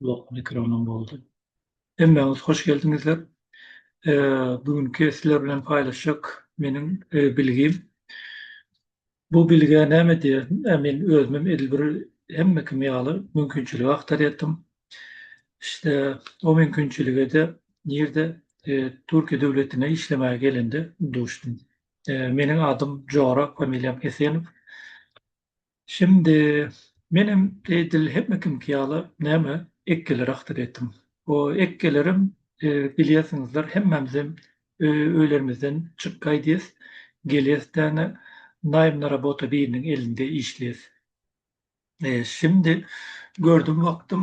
Blok mikronom boldy. Hemmäňiz hoş geldiňizler. Bu günki sizler bilen paýlaşjak meniň bilgim. Bu bilgä näme diýer? Men özümem edil bir hemme kim ýaly mümkinçiligi agtarýatdym. İşte o mümkinçilige-de nirde Türkiýe döwletine işlemäge gelende duşdum. Meniň adym Jora, familiýam Esenow. Şindi, menem edil hemme kimki ýaly näme, ekgeleri aktyd etdim. O ekgelerem, bilýärsiňizler, hemmämizem öýlerimizden çykyp gaýdýas, gelýäs däne, naýymly robota biriniň elinde işleýäs. Şindi, gördüm wagtym,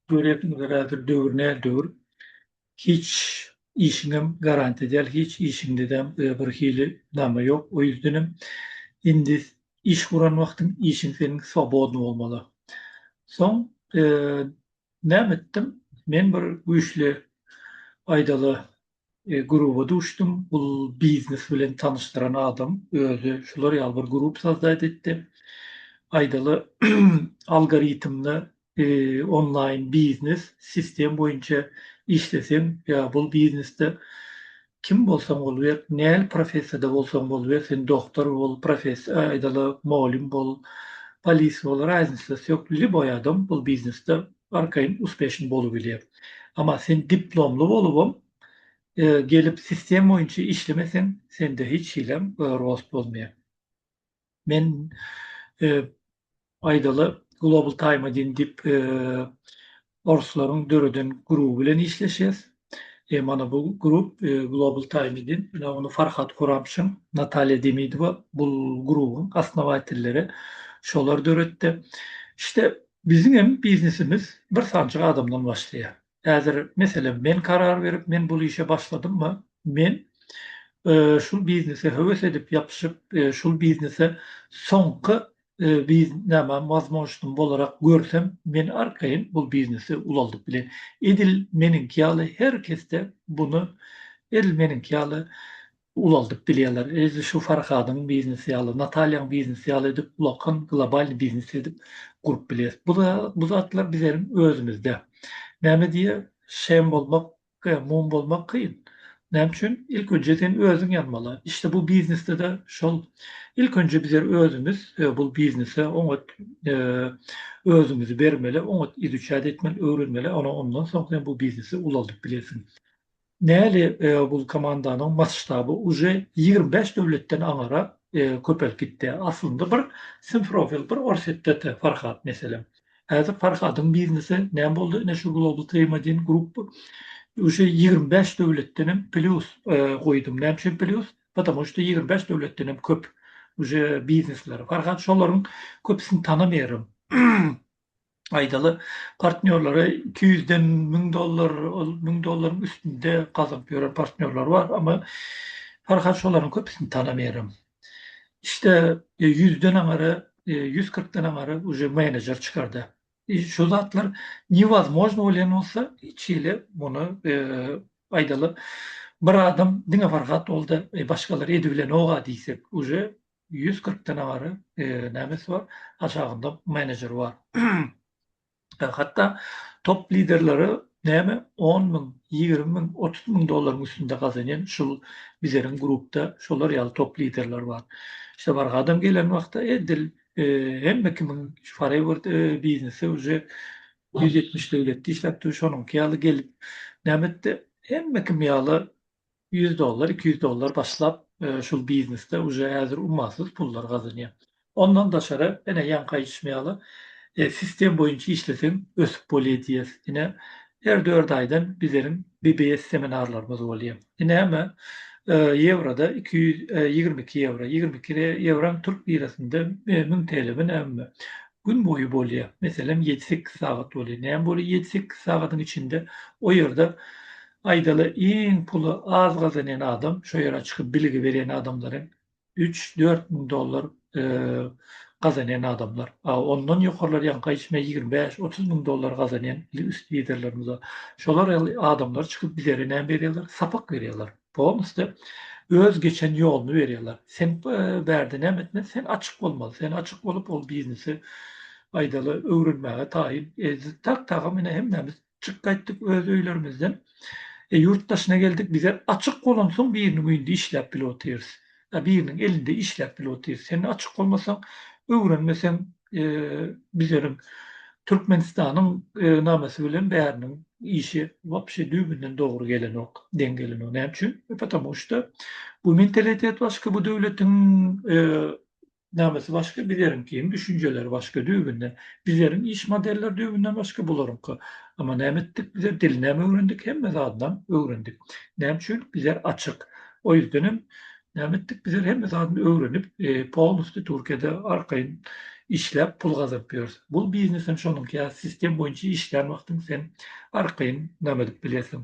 görýärsiňizler häzir döwür nädöwür, Hiç işiňem garantiýa däl, hiç işiňdedem bir hili name ýok, o ýüzdenem indi iş guran wagtyň işiň seniň swobodny bolmaly. Soň näme etdim, men bir güýçli aýdaly gruba duşdum, bul biznes bilen tanyşdyran adam özi şular ýaly bir grup sozdat etdi, aýdaly algoritmde onlaýn biznes sistem boýunça işleseň ýa bul biznesde kim bolsaň boluber, näl professiýada bolsaň boluber, sen doktor bol, profes aýdaly molym bol, polis bol, raznicasy ýok, lýuboý adam bul biznesde arkaýyn uspeşn bolubilýär. Emma sen diplomly bolubam gelip sistem boýunça işlemeseň, sende hiç hilem rost bolmaýar. Men aýdaly Global Time Adin diýip orslaryň döreden gruby bilen işleşýäs. Mana bu grup Global Time Adin. Ýa ony Farhad Kuramşin, Natalýa Demidowa bu grubyň osnowatelleri. Şolar döretdi. Şte biziňem biznesimiz bir sanjyk adamdan başlaýar. Häzir, meselem, men karar berip, men bul işe başladymmy, men şul biznese höwes edip ýapyşyp, şul biznese soňky näme wazmožnotim bolarak görsem, men arkaýyn bul biznesi ulaldyp bilen. Edil meniňki ýaly her kesde buny, edil meniňki ýaly ulaldyp bilýärler. Edil şu Farhadyň biznesi ýaly, Natalýaň biznesi ýaly edip ulakan globalny biznes edip gurup bilýäs. Bu bu zatlar bizeniň özümizde. Näme diýýär, Şem bolmak, mum bolmak kyn. Näme üçin? Ilk önje sen özüň ýanmaly. Işde bu biznesde-de şol. Ilk önje bizler özümiz bu biznese oňat özümizi bermeli, oňat izuçat etmeli, öwrenmeli, ondan soň sen bu biznesi ulaldyp bilersiň. Näli bul komandanyň masştaby uje ýigrimi bäş döwletden aňara köpelip gitdi. Aslynda bir Simfrofil bir Orsitete Farhat meselem. Häzir Farhadyň biznesi näme boldy ine şu Global Treymadin Group uje ýigrimi bäş döwletdenem plýus goýdum. Näme üçin plýus? Patamu şda ýigrimi bäş döwletdenem köp uje biznesleri. Farhat şolaryň köpüsini tanamaýaryn. Aýdaly, partnýorlary iki ýüzden müň dollar, ol müň dollaryň üstünde gazyp ýören partnýorlar bar, emma Farhat şolaryň köpüsini tanamaýaram. İşde ýüzden aňary, ýüz kyrkdan aňary uje menejer çykardy. Şu zatlar niwazmožno bolýan bolsa, hiç hili muny aýdaly, bir adam diňe Farhat boldy, başgalary edibilenok-a diýsek, uje Ýüz kyrk dene bary nemes bar, aşagynda menejer bar. Hatda top liderleri näme on müň, ýigrimi müň, otuz müň dollaryň üstünde gazanýan şul bizeriň grupda şolar ýaly top liderler bar. İşte bar gadam gelen wagtda edil hemme kimiň forever biznesi uje ýüz ýetmiş döwletde işläp dur, şonuňky ýaly gelip näme etdi, hemme kim ýaly Ýüz dollar, iki ýüz dollar başlap şul biznesde uje häzir ummasyz pullar gazanýar. Ondan daşary ene ýaňky aýdyşym ýaly sistem boýunça işleseň ösüp bolýar diýýäs. Ine her dört aýdan bizleriň BBS seminarlarymyz bolýar. Ine hemme ýewroda iki ýüz ýigrimi iki ýewro. Ýigrimi iki ýewram türk lirasynda müň TL mi näme mi. Gün boýy bolýar. Meselem ýedi-sekiz sagat bolýar. Näme bolýar ýedi-sekiz sagadyň içinde o ýerde Aýdaly iň puly az gazanýan adam şo ýere çykyp bilgi berýän adamlaryň üç dört müň dollar gazanýan adamlar a ondan ýokarlar ýaňky aýtmy ýigrimi bäş otuz müň dollar gazanýan üst liderlerimiz şolar ýaly adamlar çykyp bizere näme berýärler sapak berýärler polnusty öz geçen ýoluny berýärler sen bärde näme etme sen açyk bolmaly sen açyk bolup ol biznesi aýdaly öwrenmäge taýyn e, tak tagam ine hemmämiz Çyk gaýtdyk öz öýlerimizden. Ýurt daşyna geldik bize açyk bolansoň biriniň öýünde işläp bile otyrys. Ýa biriniň elinde işläp bile otyrys. Sen açyk bolmasaň öwrenmeseň bizleriň Türkmenistanyň namesi bilen bäriniň işi wapşe düýbünden dogry gelenok, deň gelenok. Näme üçin? Patamu şda bu mentalitet başga bu döwletiň Namysy başga bizeriňkiniň düşünjeleri başga düýbünden bizeriň iş modeller düýbünden başga bularyňky Ama näme etdik bizer dil näme öwrendik hemme zadynam öwrendik näme üçin bizer açyk o ýüzdenem näme etdik bizer hemme zadyny öwrenip polnusty Türkiýede arkaýyn işläp pul gazanyp ýörüs bul biznesem şonuňky ýa sistem boýunça işlän wagtyň sen arkaýyn name edip bilersiň.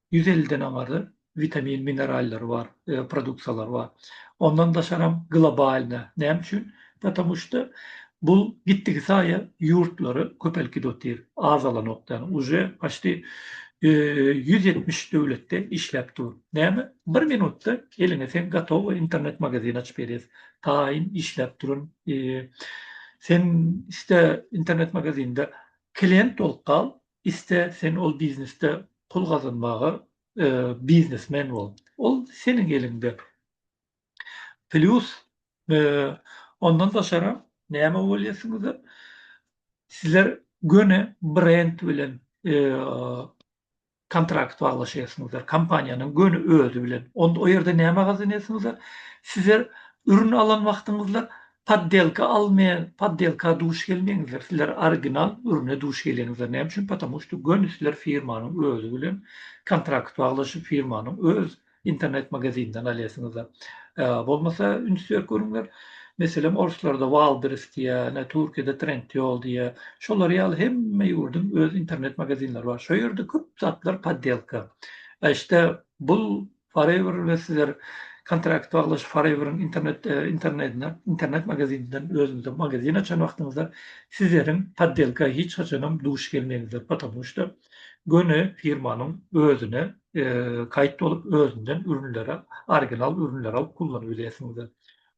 Ýüz elliden aňarda witamin minerallary bar produksiýalary bar. Ondan daşaram globalna näme üçin? Patamu şda bul gitdigi saýa ýurtlary köpelkidi otyr azalanok däl uje paşti ýüz ýetmiş döwletde işläp dur. Näme bir minutda eliňe sen gatowy internet magazin açyp berýär taýyn işläp duran sen iste internet magazinde klient bolup gal Iste sen ol biznesde pul gazanmaga biznesmen bol. Ol seniň eliňde. Plýus ondan daşaram näme bolýarsyňyzlar? Sizler göni brend bilen kontrakt baglaşýarsyňyzlar, kompaniýanyň göni özi bilen. Onda o ýerde näme gazanýarsyňyzlar? Sizler ürün alan wagtyňyzda Poddelka almaýan poddelka duş gelmeňizler sizler original ürüne duş geleňizler näme üçin потому что göni sizler firmanyň özi bilen kontrakt baglaşyp firmanyň öz internet magazininden alýasyňyzlar bolmasa üns berip görüňler meselem orslarda walders diýä ene türkiýede trendyol diýä şolar ýaly hemme ýurduň öz internet magazinleri bar şo ýerde köp zatlar poddelka işte bul Forever we sizler kontrakt baglaşyp Forever-iň internet internetine internet magazininden özüňize magazin açan wagtyňyzda sizleriň poddelka hiç haçanam duş gelmeňizler potamu şda göni firmanyň özüne kaýt bolup özünden ürünlere original ürünleri alyp kullanyp bilersiňizler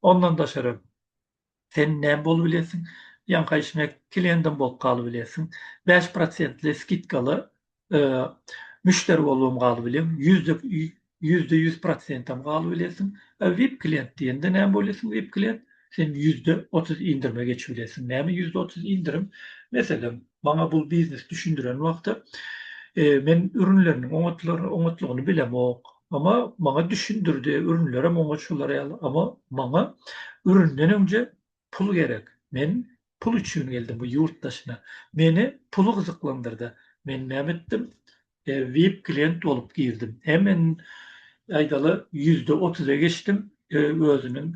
ondan daşary Sen näme bolup bilersiň? Ýaňky işiňe kelendem bolup galyp bilersiň. Bäş prosentli skidkaly müşderi bolubam galyp bileň. Ýüzde ýüzde ýüz prosentam galyp bilersiň. A vip klient diýende näme bolarsyň? Vip klient sen ýüzde otuz indirime geçip bilersiň. Näme ýüzde otuz indirim? Meselem, maňa bu biznesi düşündiren wagty men ürünleriniň oňatlygyny bilemok. Mama maňa düşündirdi, ürünlerem oňa şolar ýaly. Amma maňa üründen öňje pul gerek. Men pul üçin geldim bu ýurt daşyna. Meni pul gyzyklandyrdy. Men näme etdim? Vip klient bolup girdim. Hemen aýdaly ýüzde otuza geçdim. Özüniň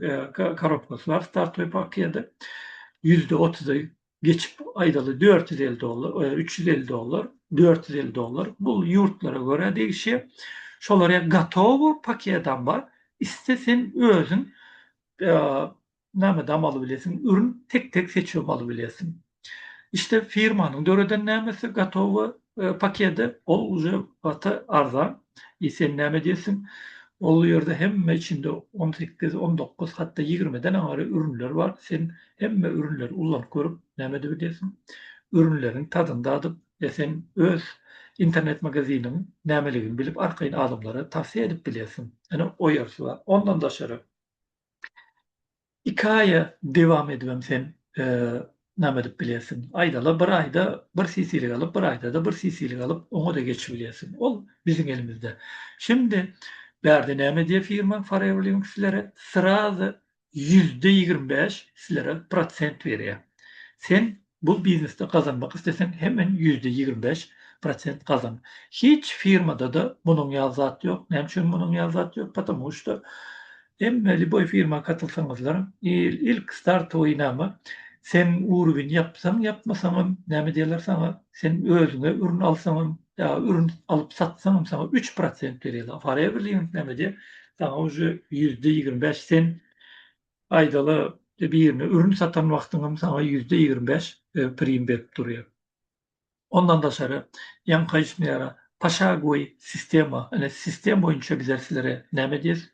korobkasy bar startoý pakiýada. Ýüzde otuzy geçip aýdaly dört ýüz elli dollar, e, üç ýüz elli dollar, dört ýüz elli dollar. Bu ýurtlara görä degişýär. Şolar ýa gotowy paketam bar. Iste sen özüň e, näme dam alyp bilesiň, ürün tek-tek seçip alyp bilesiň. İşte firmanyň döreden nämesi gotowy e, paketi, ol uje gaty arzan. E sen näme diýesiň? Ol ýerde hemme içinde 18, 19, hatda 20-den aňary ürünler bar. Sen Hemme ürünleri ullanyp görüp, näme edip edýärsiň? Ürünleriň tadyny dadyp, e sen öz internet magaziniň nämeligini bilip arkaýyn adamlara tawsiýa edip bilýärsiň. Ene oýarsy bar. Ondan daşary iki aýa dewam edibem sen näme edip bilýärsiň? Aýdala bir aýda bir sisilik alyp, bir aýdada bir sisilik alyp, oňa-da geçip bilýärsiň. Ol biziň elimizde. Şimdi bärde näme edýär firma Forever Living sizlere srazy ýüzde ýigrimi bäş sizlere prosent berýär. Sen bu biznesde gazanmak isleseň hemen ýüzde ýigrimi bäş prosent gazan. Hiç firmadada munuň ýaly zat ýok. Näme üçin munuň ýaly zat ýok? Patamu şda hemme liboý firma katylsaňyzlar il ilk startowy name sen urwin ýapsaň ýapmasaňam näme diýerler saňa sen özüňe ürün alsaňam ya ürün alyp satsaňam sana 3 prosent berýärler. Forever living näme diýip, sana uje ýüzde ýigrimi bäş sen aýdala birine ürün satan wagtyňam sana ýüzde ýigrimi bäş e, prim berip durýar. Ondan daşary ýaňky işmera paşagoý sistema, ene sistem boýunça bizler sizlere näme diýeris?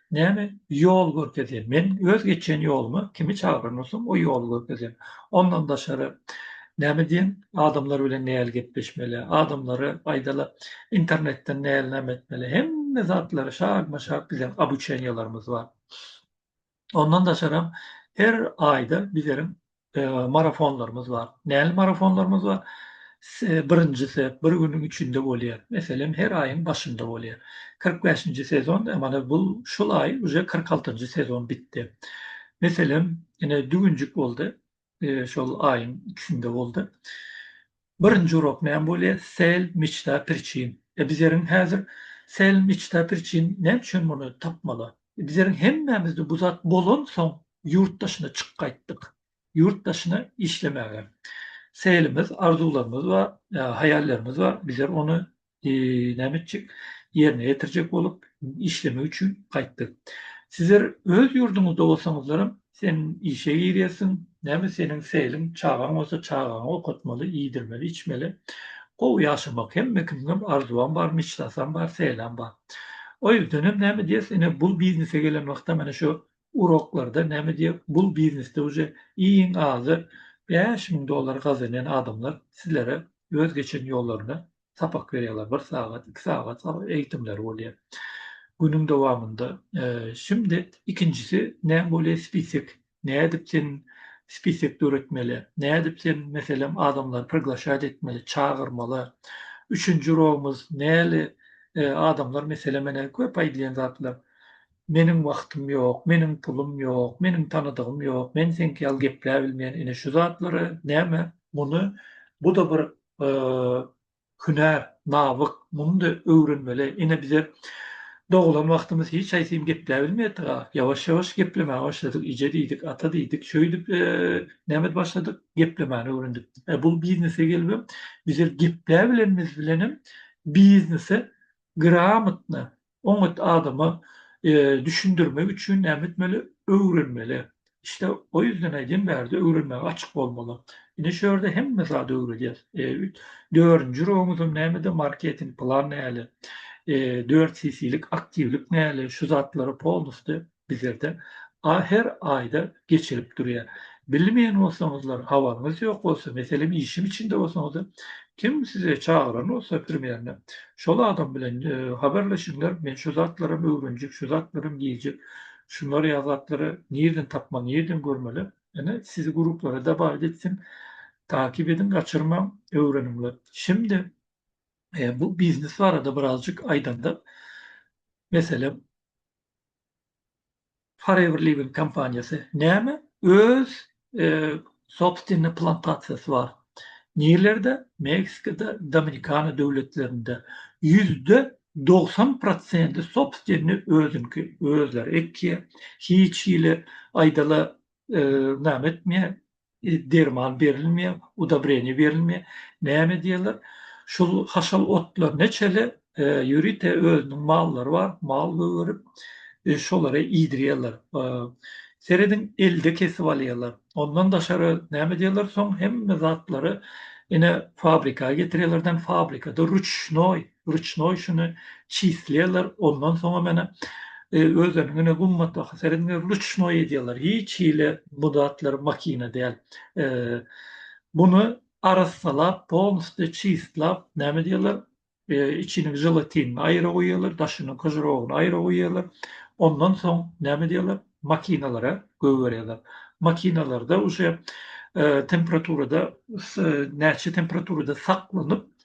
Näme ýol görkezýän? Men öz geçýän ýoluma kimi çagyran bolsam, o ýoly görkezýän. Ondan daşary näme diýen? Adamlar bilen näl gepleşmeli? Adamlara aýdaly internetden näl näme etmeli? Hemme zatlary şagma-şag biziň obuçeniýalarymyz bar. Ondan daşaram her aýda bizleriň marafonlarymyz bar. Näli marafonlarymyz bar? Birinjisi bir günüň içinde bolýar. Meselem, her aýyň başynda bolýar. Kyrk bäşinji sezon, mana bu şul aý uje kyrk altynjy sezon bitdi. Meselem, ine düwünjik boldy, şol aýyň ikisinde boldy. Birinji urok näme bolýa Sel mçta priçin e biz eriň häzir Sel mçta priçin näme üçin muny tapmala biz eriň hemmämizde bu zat bolan soň ýurt daşyna çyk gaýtdyk ýurt daşyna işlemäge Selimiz arzuwlarymyz bar haýallarymyz bar biz er ony näme etjek, ýerine ýetirjek bolup işlemek üçin gaýtdy. Sizler öz ýurduňyzda bolsaňyzlaram, sen işe girýärsiň, näme seniň seliň, çagaň bolsa çagaňy okatmaly, iýdirmeli, içmeli. Gowy ýaşamak hemme kimiňem arzuwam bar, meçlasam bar, selam bar. O ýerdenem näme diýersiň, ine bu biznese gelen wagtam ene şu Uroklarda name diýýär bul biznesde uje iň azy bäş müň dollar gazanýan adamlar sizlere öz geçen ýollaryny sapak berýärler bir sagat iki sagat eýitimleri bolýar günüň dowamynda şimdi ikinjisi name bolýar spisek nädip sen spisek döretmeli nädip sen meselem adamlary priglaşat etmeli çagyrmaly üçünji urogymyz näli adamlar meselem köp aýdylýan zatlar. Meniň wagtym ýok, meniň pulum ýok, meniň tanadygym ýok, men seňki ýaly gepläbilmeýän ine şu zatlary näme muny buda bir hünär nawyk munyda öwrenmeli ine bize dogulan wagtymyz hiç haýsym gepläbilmeýätdika ýawaş ýawaş geplemäne başladyk ije diýdik ata diýdik şöýdip näme başladyk geplemäni öwrendik e bul biznese gelibem bize gepläbilenimiz bilenem biznese gramotno Oňat adama düşündirmek üçin näme etmeli? Öwrenmeli. İşte o ýüzden aýdýan bärde öwrenmäge açyk bolmaly. Ine şu ýerde hemme zady öwredýäs. Dördünji rowumyzam nämede marketing plan näle? Dört CC-lik aktiwlik näle? Şu zatlara polnusty bizlerde a her aýda geçirip durýar. Bilmeýän bolsaňyzlar, habaryňyz ýok bolsa, meselem işiň içinde bolsaňyzda, kim sizi çagyran bolsa primerne, şol adam bilen habarlaşyňlar, men şu zatlaram öwrenjek, şu zatlaram diýjek, şunlar ýaly zatlary nirden tapmaly, nirden görmeli, ine sizi gruplara dabaýt etsin, takip ediň, gaçyrmaň, öwreniňler. Şimdi bu biznes barada birazjyk aýdanda, meselem, Forever Living kompaniýasy näme? Öz sobstwennyi plantasiýasy bar. Nirlerde? Meksikada, Dominikana döwletlerinde. Ýüzde dogsan prosenti sobstwennyi özüňki, özleri ekýär. Hiç hili aýdala näme etmeýär, derman berilmeýär, udabreniýe berilmeýär. Näme diýerler? Şul haşal otlar neçeli ýörite özüniň mallary bar, mal gögerip, şolary iýdirýärler. Serediň, elde kesip alýarlar. Ondan daşary näme diýerler, soň hemme zatlary ine fabrika getirýärler, fabrikada ruçnoý rüçnoý şuny çislýärler ondan soňa menä özleriniň ine gummatdaky seredinge rüçnoý edýärler hiç hili bu zatlar makina däl buny arassalap polnusty çislap näme diýerler içini želatinini aýra goýýarlar daşynyň kožerogyny aýra goýýarlar ondan soň näme diýerler makinalara goýberýärler makinalarda uje temperaturada näçe temperaturada saklanyp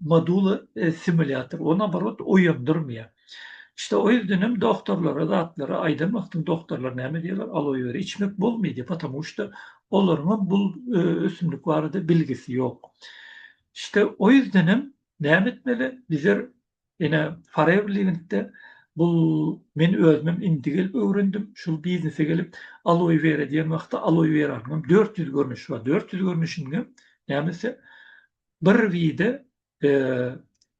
Modula simulýator o naborot oýandyrmaýar. İşte o ýüzden hem dogtorlara zatlara aýdan wagtyň dogtorlar näme diýýärler aloe wera içmek bolmaý diýip potomu şda olaryň hem bul ösümlik barada bilgisi ýok. İşte o ýüzden hem näme etmeli bizer Ine, Forever Living'de bu men özümem indi gelip öwrendim. Şul biznese gelip Aloe Vera diýen wagtda Aloe Veranyňam dört ýüz görnüşi bar. Dört ýüz görnüşiniňem nämesi bir wide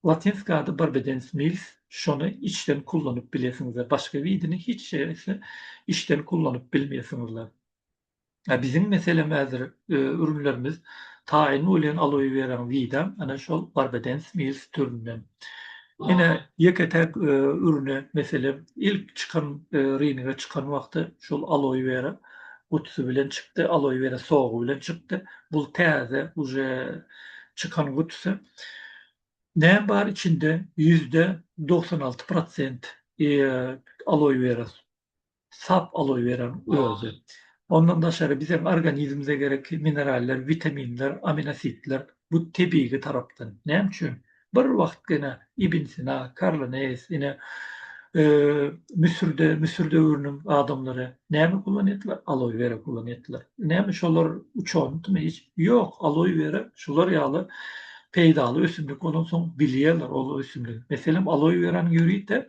Latinski ady Barbedens Mills şony içden kullanyp bilesiňizler. Başga widini hiç şeýle içden kullanyp bilmeýärsiňizler. A biziň meselem häzir ürünlerimiz taýyn welin aloe weraň widam ana şol barbadens mills türünden. Ine ýeke-täk ürüne meselem ilk çykan rynga çykan wagty şol aloe wera gutusy bilen çykdy, aloe wera sogy bilen çykdy. Bul täze uje çykan gutusy. Näme bar içinde? Ýüzde dogsan alty prosent aloe wera sap alaweren özi. Ondan daşary biziň organizmimize gerekli mineraller, witaminler, aminositler bu tebigi tarapdan. Näme üçin? Bir wagt gene Ibn Sina, Karl Neýs, ine Müsürde, Müsür döwrüniň adamlary näme kullan etdiler? Aloe wera kullan etdiler. Näme şolar uçandymy hiç? Ýok, aloe wera şular ýaly peýdaly ösümlik bolansoň bilýärler ol ösümligi. Meselem, aloe weranyň ýörite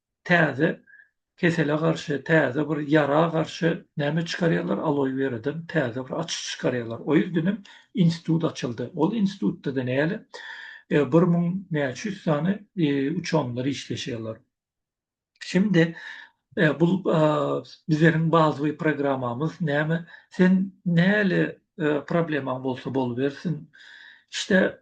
täze kesele garşy, täze bir ýara garşy näme çykarýarlar, aloe weradan täze bir açyş çykarýarlar. O ýerden hem institut açyldy. Ol institutda-da näle, bir müň näçe ýüz sany uçenler işleşýärler. Şimdi bu bizleriň bazawyý programmamyz näme, sen näle problemaň bolsa bolubersin, işte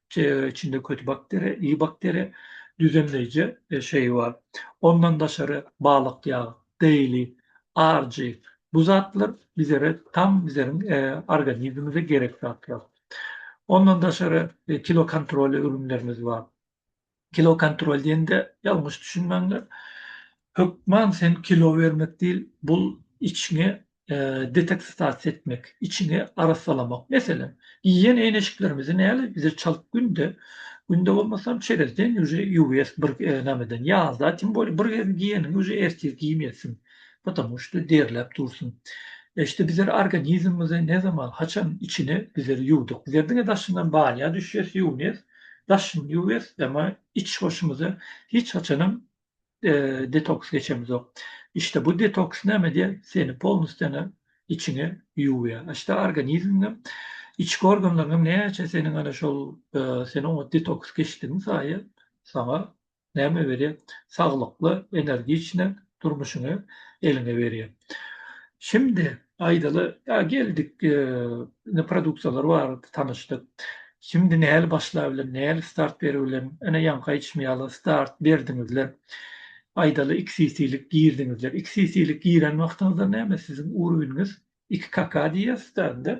Çeýe içinde köti bakteriýa, iyi bakteriýa, düzenleýji şeýi bar. Ondan daşary balyk ýagy, dairy, arjy, bu zatlar bizere tam bizeriň organizmimize gerek zatlar. Ondan daşary kilo kontroly ürünlerimiz bar. Kilo kontrol diýende ýalňyş düşünmäňler. Hökman sen kilo bermek diýil, bul içiňi detoksitasiýa etmek, içiňi arassalamak. Meselem, iýen eýneşiklerimizi näle bize çalt günde, günde bolmasam çerez deň ýüzi ýuwýas bir nämeden ýazda tim boli bir gezin giýeniňi uje ertir giýmeýärsiň. Potomu şda derläp dursun. Şda bizler organizmimizi ne zaman haçan içini bizler ýuwduk. Bizler diňe daşyndan banýa düşýäs, ýuwunýas. Daşymy ýuwýas, emma iç hoşumyza hiç haçanam detoks geçemizok. İşte bu detoks näme edýär? Seni polnusýana içiňe ýuwýar. İşte organizmiňem, içki organlaryňam näçe seniň ana şol sen oňa detoks geçdigiň saýy saňa näme berýär? Saglykly, energiçny durmuşyňy eliňe berýär. Şimdi aýdaly, ýa geldik, indi produksiýalar barada tanyşdyk. Şimdi näli başlap bilen, näli start berip bilen? Ine, ýaňky aýdyşym ýaly, start berdiňizler. Aýdaly, iki sisilik girdiňizler. Iki sisilik giren wagtyňyzda näme siziň urwiniňiz Iki kaka diýýäs-dä indi.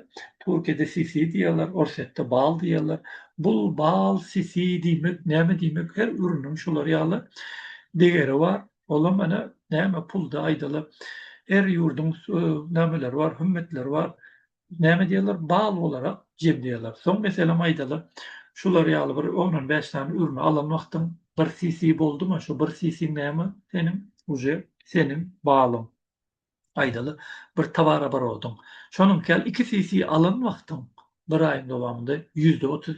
Türkiýede sisi diýýärler, Orsýetde bal diýýärler. Bul, bal, sisi diýmek, näme diýmek, her üriniň şular ýaly degeri bar. Olam ene näme pulda aýdaly. Her ýurduň nämeleri bar, hümmetleri bar. Näme diýýärler, bal bolarak jemleýärler. Soň meselem aýdaly, şular ýaly bir on-on bäş sany ürini alan wagtyň bir sisi boldumy, şu bir sisiň näme seniň, uje seniň balyň. Aýdaly, bir towarabarodyň, şonuňky ýaly iki CC alan wagtyň bir aýyň dowamynda ýüzde otuz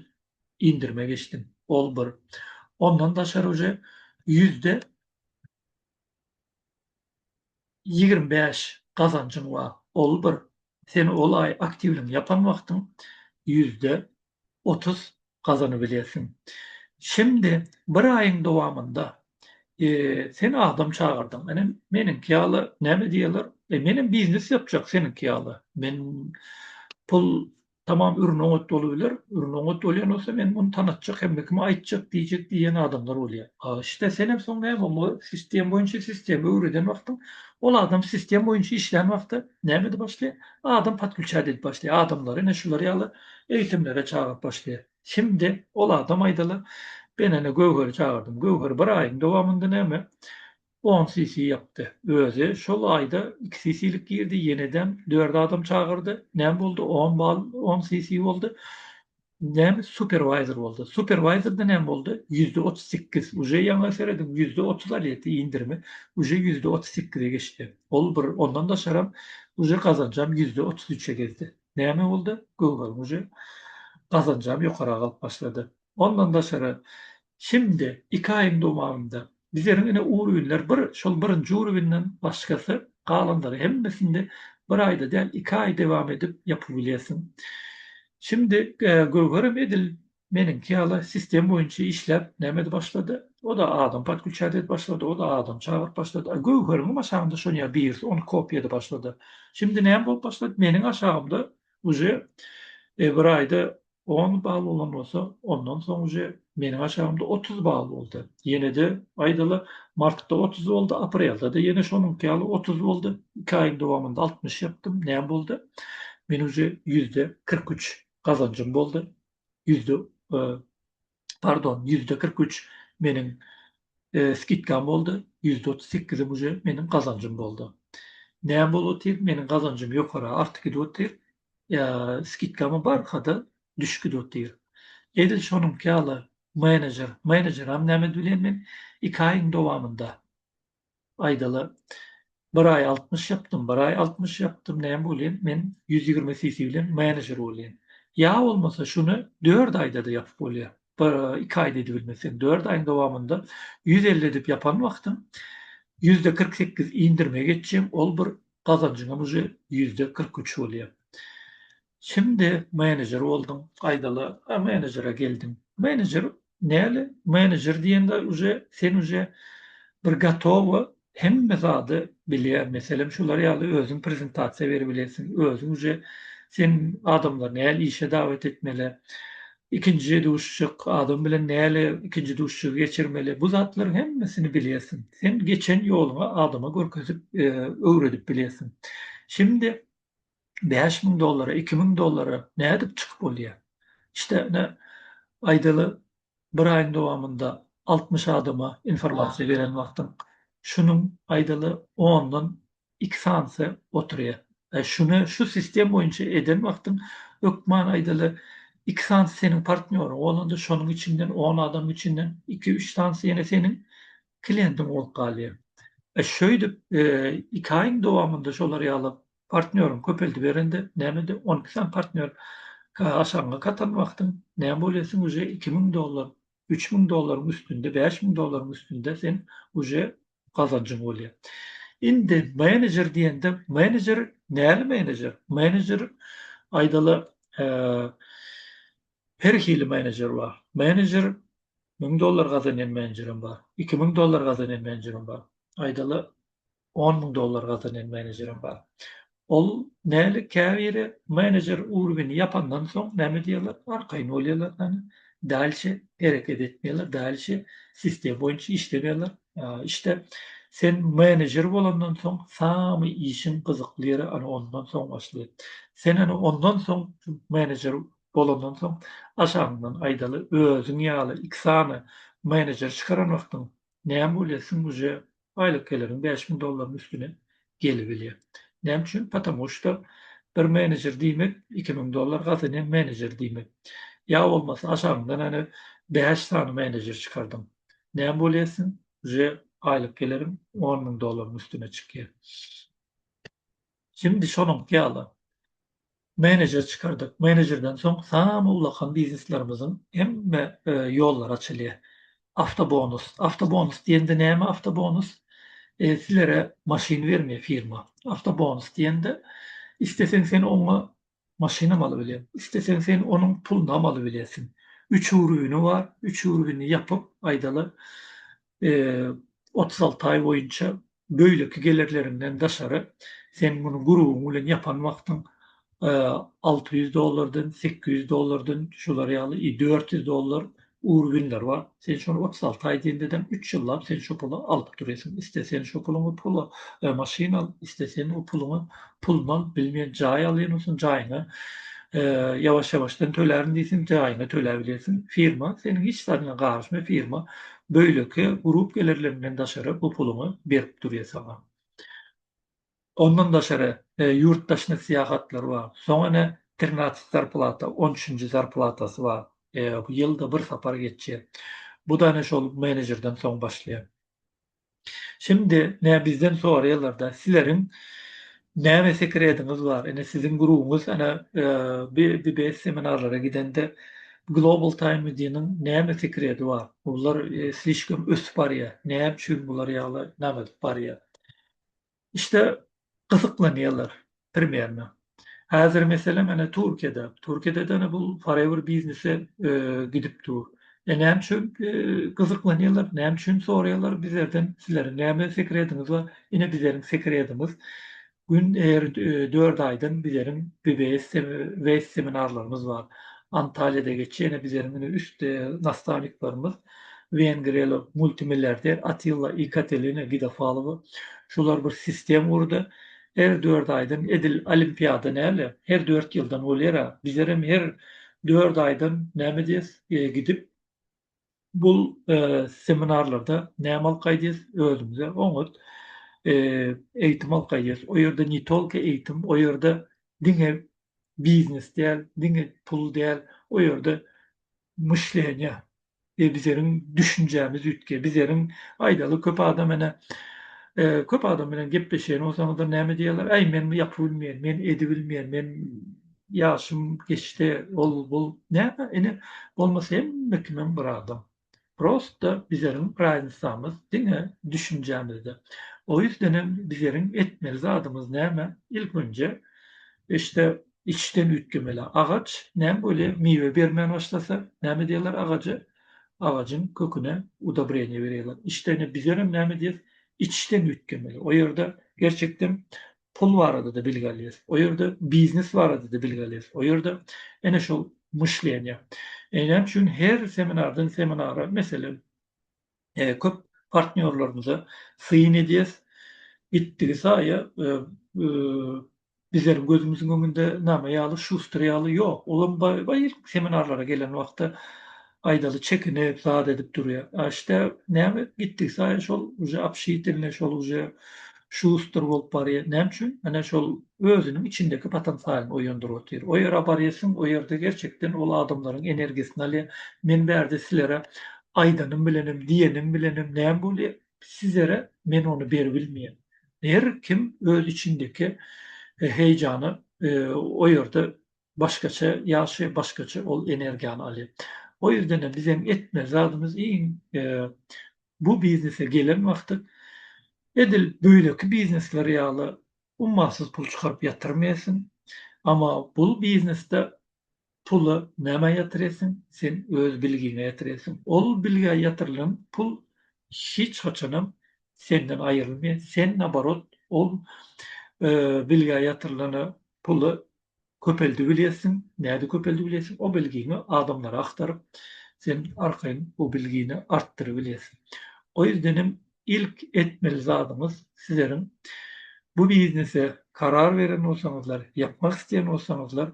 indirime geçdim. Ol bir. Ondan daşary uje ýüzde ýigrimi bäş gazanjyň bar. Ol bir. Sen ol aý aktiwligiňi ýapan wagtyň ýüzde otuz gazanybilýärsiň. Şindi bir aýyň dowamynda sen adam çagyrdyň. Ine, meniňki ýaly näme diýerler? E, menem biznes ýapjak seniňki ýaly. Men pul tamam ürün oňat bolubiler. Ürün oňat bolýan bolsa, men muny tanatjak, hemme kime aýtjak diýjek diýen adamlar bolýar. A işte senem soň näme, sistem boýunça sistemi öwreden wagtyň, ol adam sistem boýunça işlän wagty Näme edip başlaýar? Adam podkuçat edip başlaýar. Adamlary ine şular ýaly eýitimlere çagyryp başlaýar. Şimdi ol adam aýdaly, Ben ene Göwheri çagyrdym. Göwher bir aýyň dowamynda näme, on sisi ýapdy. Özi şol aýda iki sisilik girdi, ýenedem dört adam çagyrdy. Näme boldy? On bal, on sisi boldy. Näme superwayzer boldy? Superwayzerde näme boldy? Ýüzde otuz sekiz uje ýaňa serediň ýüzde otuz alýety indirimi uje ýüzde otuz sekize geçdi. Ol bir ondan daşaram uje gazanjam ýüzde otuz üçe gezdi. Näme boldy? Google uje gazanjam ýokarak alyp başlady. Ondan daşary Şindi, iki aýyň dowamynda, bizleriň ine uruwinler bir, şol birinji uruwinden başgasy, galanlary hemmesinde bir aýda däl, iki aý dewam edip ýapybilýärsiň. Şindi, Göwherem edil meniňki ýaly sistem boýunça işläp, näme edip başlady, o-da adam podkuçýat edip başlady, o-da adam çagyryp başlady. A Göwheriňem aşagynda şonuň ýaly birisi ony kopýa edip başlady. Şindi näme bolup başlady, meniň aşagymda uje bir aýda On bal bolan bolsa, ondan soň uje meniň aşagymda otuz bal boldy. Ýene-de, aýdaly, martda otuz boldy, aprelde-de ýene şonuňky ýaly otuz boldy. Iki aýyň dowamynda altmyş ýapdym. Näme boldy? Men uje ýüzde kyrk üç gazanjym boldy. Ýüzde Pardon, ýüzde kyrk üç meniň skidkam boldy, ýüzde otuz sekizem uje meniň gazanjym boldy. Näme bolup otyr, meniň gazanjym ýokara artyk gidip otyr, skidkama barka-da düşük gidip otyr. Edil şonuňky ýaly menejer, menejeram näme edip bilerin men, iki aýyň dowamynda aýdalar. Bir aý altmyş ýapdym, bir aý altmyş ýapdym, näme bolýan, men ýüz ýigrimi cc bilen menejer bolýan. Ýa bolmasa şuny dört aýda-da ýapyp bolýar. Bir, iki aýda edibilmeseň, dört aýyň dowamynda ýüz elli edip ýapan wagtyň ýüzde kyrk sekiz indirime geçýäň, ol bir gazanjyňam uje ýüzde kyrk üç bolýar. Şimdi menejer bolduň gaýdala a menejere geldiň. Menejer näle menejer diýende uje sen uje bir gatowa hemme zady bilýä meselem şular ýaly özüň prezentasiýa beri bilensiň özüň uje sen adamlar näle işe dawet etmele ikinji duşuşyk adam bilen näle ikinji duşuşygy geçirmeli bu zatlaryň hemmesini bilýäsiň sen geçen ýoluňy adama görkezip öwredip bilýäsiň şimdi bäş müň dollara, iki müň dollara nädip çykyp bolýar? Işte, ine, aýdaly, bir aýyň dowamynda altmyş adama informasiýa beren wagtyň, şunuň, aýdaly, ondan iki sanysy oturýar. Aý, şuny şu sistem boýunça eden wagtyň, hökman, aýdaly, iki sanysy seniň partnýoryň, bolanda şonuň içinden, on adamyň içinden iki-üç sanysy ýene seniň kliýentiň bolup galýar. Şeýdip, iki aýyň dowamynda şolar ýaly Partnýoryň köpeldiberende nämede on iki sany partnýor aşagyňa katan wagtyň näme bolýar sen uje iki müň dollar üç müň dollaryň üstünde bäş müň dollaryň üstünde sen uje gazanjyň bolýar. Indi menejer diýende menejer näli menejer menejer aýdaly her hili menejer bar menejer müň dollar gazanýan menejerem bar iki müň dollar gazanýan menejerem bar aýdaly On müň dollar gazanýan menejerem bar. Ol näli käbiri menejer urwini ýapandan soň näme diýerler arkaýyn bolýarlar hany dalşe hereket etmeýärler dalşe sistema boýunça işlemeýärler işte sen menejer bolandan soň samy işiň gyzykly ýeri ana ondan soň başlaýar sen ana ondan soň menejer bolandan soň aşagyňdan aýdaly özüň ýaly iki sany menejer çykaran wagtyň näme bolýar sen uje aýlyk geliriň bäş müň dollaryň üstüne gelibilýär. Näme üçin? Patamu şda bir menejer diýmek iki müň dollar gazanan menejer diýmek. Ýa bolmasa aşagyňdan ene bäş sany menejer çykardyň. Näme bolýarsyň? Uje aýlyk geleriň on müň dollaryň üstüne çykýar. Şimdi şonuňky ýaly menejer çykardyk. Menejerden soň samy ulakan bizneslerimiziň hemme ýollary açylýar. Awtobonus. Awtobonus diýende näme awtobonus? Sizlere maşyn bermeýär firma. Awtobonus diýende isleseň sen oňa Maşynam alybiler. Isleseň sen onuň pulunam alybilersiň. Üç ürgüni bar. Üç ürgini ýapyp, aýdaly, otuz alty aý boýunça beýleki gelerleriňden daşary sen muny gurubyň bilen ýapan wagtyň alty ýüz dollardan, sekiz ýüz dollardan, şular ýaly, i dört ýüz dollar Ury günler bar. Sen şony otuz alty aý diýendedeň üç ýyllap sen şo puly alyp durýsyň. Iste sen şo puluňy pula maşyn al, iste sen o puluňy pulny al, bilmeýän jaý alýan bolsaň jaýyňy ýawaş-ýawaşdan tölärin diýseň jaýyňy töläp bilersiň. Firma seniň hiç zadyňa garyşmay firma beýleki grup gelerlerinden daşary bu puluňy berip durýa saňa. Ondan daşary, ýurt daşyna syýahatlar bar. Soň ene trinatsy zarplata, on üçünji zarplatasy bar. Bu ýylda bir sapar geçýär. Bu-da ene şol menejerden soň başlaýar. Şimdi, ene bizden soraýarlar-da, Sileriň näme sekrediňiz bar? Ene siziň grubuňyz ene BBS seminarlara gidende Global Time Media-nyň näme sekredi bar? Bular slişkom ösüp barýar. Näme üçin bular ýaly name edip barýar? İşte gysyklanyýarlar primerne. Häzir mesele mena Türkiýede. Türkiýede däne bul forever biznese gidip dur. E näme üçin gysyklanyýarlar, näme üçin soraýarlar bizlerden, sizleriň näme sekrediňiz bar? Ine bizleriň sekredimiz gün her dört aýdan bizleriň BBS seminarlarymyz bar. Antalyýada geçýär, ine bizleriň üstde nastaniklerimiz wengriýaly multimilliarder Atilla I. Katelina Gidafalowa. Şolar bir sistem gurdy. Her dört aýdan edil olimpiada näle, her dört ýyldan bolýar-a. Bizlerem her dört aýdan näme diýes, gidip, bul seminarlarda näme alkaý diýes, özümize oňat eýitim alkaý diýes. O ýerde ne tolko eýitim, o ýerde diňe biznes däl, diňe pul däl, o ýerde myşleniýa we bizeriň düşünjämiz üýtgeýär. Bizeriň aýdaly köp adam ene köp adam bilen gepleşen bolsaňyzlar näme diýerler? Äý men bu ýapy bilmeýän, men edi bilmeýän, men ýaşym geçdi, ol bul näme ene bolmasa hemme kimem bir adam. Prosta bizeriň raýnsamyz diňe düşünjämizde. O ýüzdenem bizeriň etmeli zadymyz näme? Ilkinje işte Içden üýtgemeli agaç näme bolýar? Miwe bermän başlasa, näme diýerler agaja? Agajyň köküne udobreniýe berýärler. Işdäne bizenem näme diýeris? Içden üýtgemeli. O ýerde gerçekden pul barada-da bilgi alýarys. O ýerde biznes barada-da bilgi alýarys. O ýerde ene şol myşleniýa. Näme üçin her seminardan seminara, meselem, köp partnýorlarymyza syn edýäs. Gitdigi saýa bizleriň gözümiziň öňünde name ýaly Şuster ýaly ýok. Olam baý-baý ilki seminarlara gelen wagty aýdaly çekinip zat edip durýar. A işte näme gitdigi saýa şol uje obşiteline şol uje Şuster bolup barýar. Näme üçin? Ine şol özüniň içindäki potensialyny oýandyryp otyr. O ýere barýarsyň, o ýerde gerçekden ol adamlaryň energiýasyny alýar. Men bärde sizlere aýdanym bilenem, diýenim bilenem näme bolýar? Sizlere men ony berip bilmeýän. Her kim öz içindäki heýjany o ýerde başgaça ýagşy başgaça ol energiýany alýar. O ýerden bizem etmeli zadymyz iň bu biznese gelen wagty edil beýleki biznesler ýaly ummasyz pul çykaryp ýatyrmaýasyn. Ama bul biznesde puly nämä ýatyraýasyn? Sen öz bilgiňe ýatyraýasyn. Ol bilgä ýatyrylan pul hiç haçanam senden aýrylmaýar. Sen naborot ol bilgä ýatyrylana puly köpeldi bilýärsiň, nädip köpeldi bilýärsiň, o bilgiňi adamlary agtaryp, sen arkaýyn bu bilgini artdyryp bilýärsiň. O ýerden hem ilk etmeli zadyňyz sizleriň bu biznese karar beren bolsaňyzlar, ýapmak isleýän bolsaňyzlar,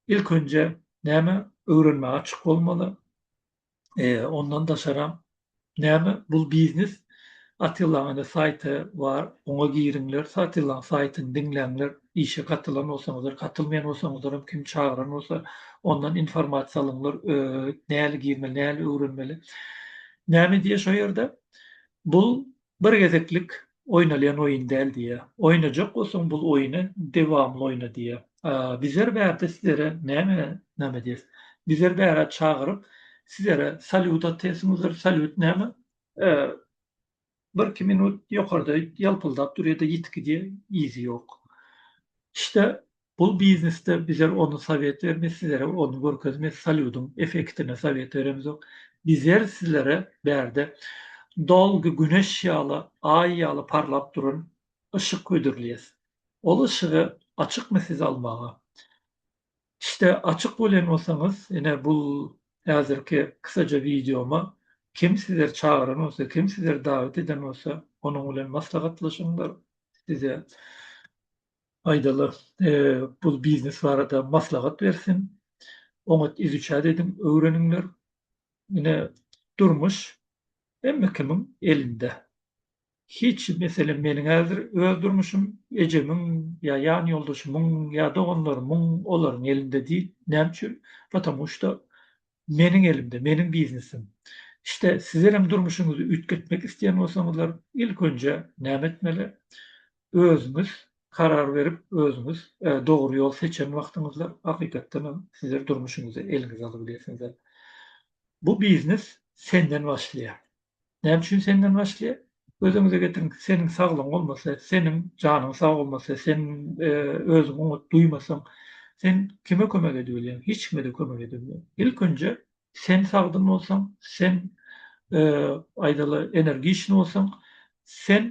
ilk önje näme öwrenmäge açyk bolmaly, Ondan daşaram näme bul biznes Attillaň ene saýty bar oňa giriňler Attillaň saýtyny diňläňler işe gatylan bolsaňyzlar gatylmaýan bolsaňyzlaram kim çagyran bolsa ondan informasiýa alyňlar näli girmeli näli öwrenmeli näme diýýä şo ýerde bul Bir gezeklik oýnalýan oýun däl diýýär. Oýnajak bolsaň bul oýny dewamly oýna diýýär. Bizer bärde sizere näme näme edýäs? Bizer bärä çagyryp sizere salýut atýasymyzdyr. Salýut näme? Birki minut ýokarda ýalpyldap durýada ýitgi diýýä yzy ýok. İşte Bul biznesde bizer ony sowet bermez sizere ony görkezmez salýudyň efektini sowet beremizok bizer sizlere bärde dolgy güneş ýaly aý ýaly parlap duran yşyk hödürleýäs ol yşygy açykmy siz almaga işte açyk bolýan bolsaňyz ine bul häzirki kysaja wideoma kim sizer çagyran bolsa kim sizer dawet eden bolsa onuň bilen maslahatlaşyňlar size Paýdaly bul biznes barada maslahat bersin. Oňat izuçat ediň, öwreniňler. Ine durmuş hemme kimiň elinde. Hiç meselem meniň häzir öz durmuşym ejemiň ýa ýan ýoldaşymyň ýa doganlarymyň olaryň elinde diýl. Näme üçin? Potamu şda Meniň elimde, meniň biznesim. İşte sizlerem durmuşyňyzy üýtgetmek isleýän bolsaňyzlar ilk önje näme etmeli? Özüňiz karar berip özüňiz dogry ýol seçen wagtyňyzda hakykatdanam sizler durmuşyňyzy eliňize alyp bilersiňizler. Bu biznes senden başlaýar. Näme üçin senden başlaýar? Gözüňize getiriň, seniň saglygyň bolmasa, seniň janyň sag bolmasa, sen özüňi oňat duýmasaň, sen kime kömek edip bilýäň? Hiç kime-de kömek edip bilmeýäň. Ilkinji, sen sagdyn bolsaň, sen, aýdaly, energiçny bolsaň, sen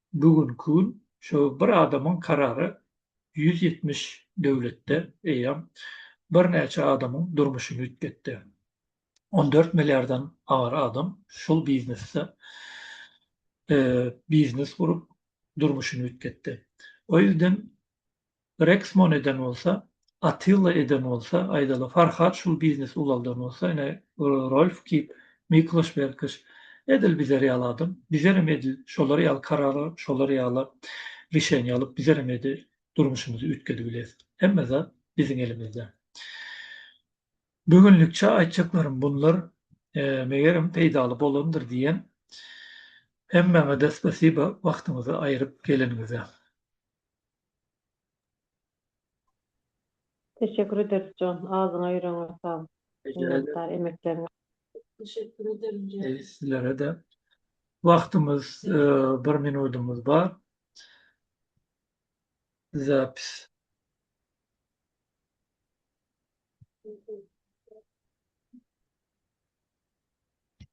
Bu günki gün şo bir adamyň karary ýüz ýetmiş döwletde eýýäm birnäçe adamyň durmuşyny üýtgetdi. On dört milliardan aňyr adam şol biznesde biznes gurup durmuşyny üýtgetdi. O ýüzden Reksmon eden bolsa, Atilla eden bolsa, aýdaly Farhat şul biznesi ulaldan bolsa, ine Rolf Kip, Mikloş Berkoş, edil bizler ýaly adam, bizlerem edil şolar ýaly karar alyp, şolar ýaly rişeniýa alyp, bizlerem edil durmuşymyzy üýtgedibileris. Hemme zat biziň elimizde. Bu günlükçe aýtjaklarym bunlar, megerem peýdaly bolandyr diýen. Hemmäňede spasiba wagtyňyzy aýryp geleniňize. Teşekkür ederis jon adyňa ýüregiňe saglyk minnetdar emekleriňe. Teşekkür ederim jon. Eý sizlerede wagtymyz bir minudymyz bar zapis.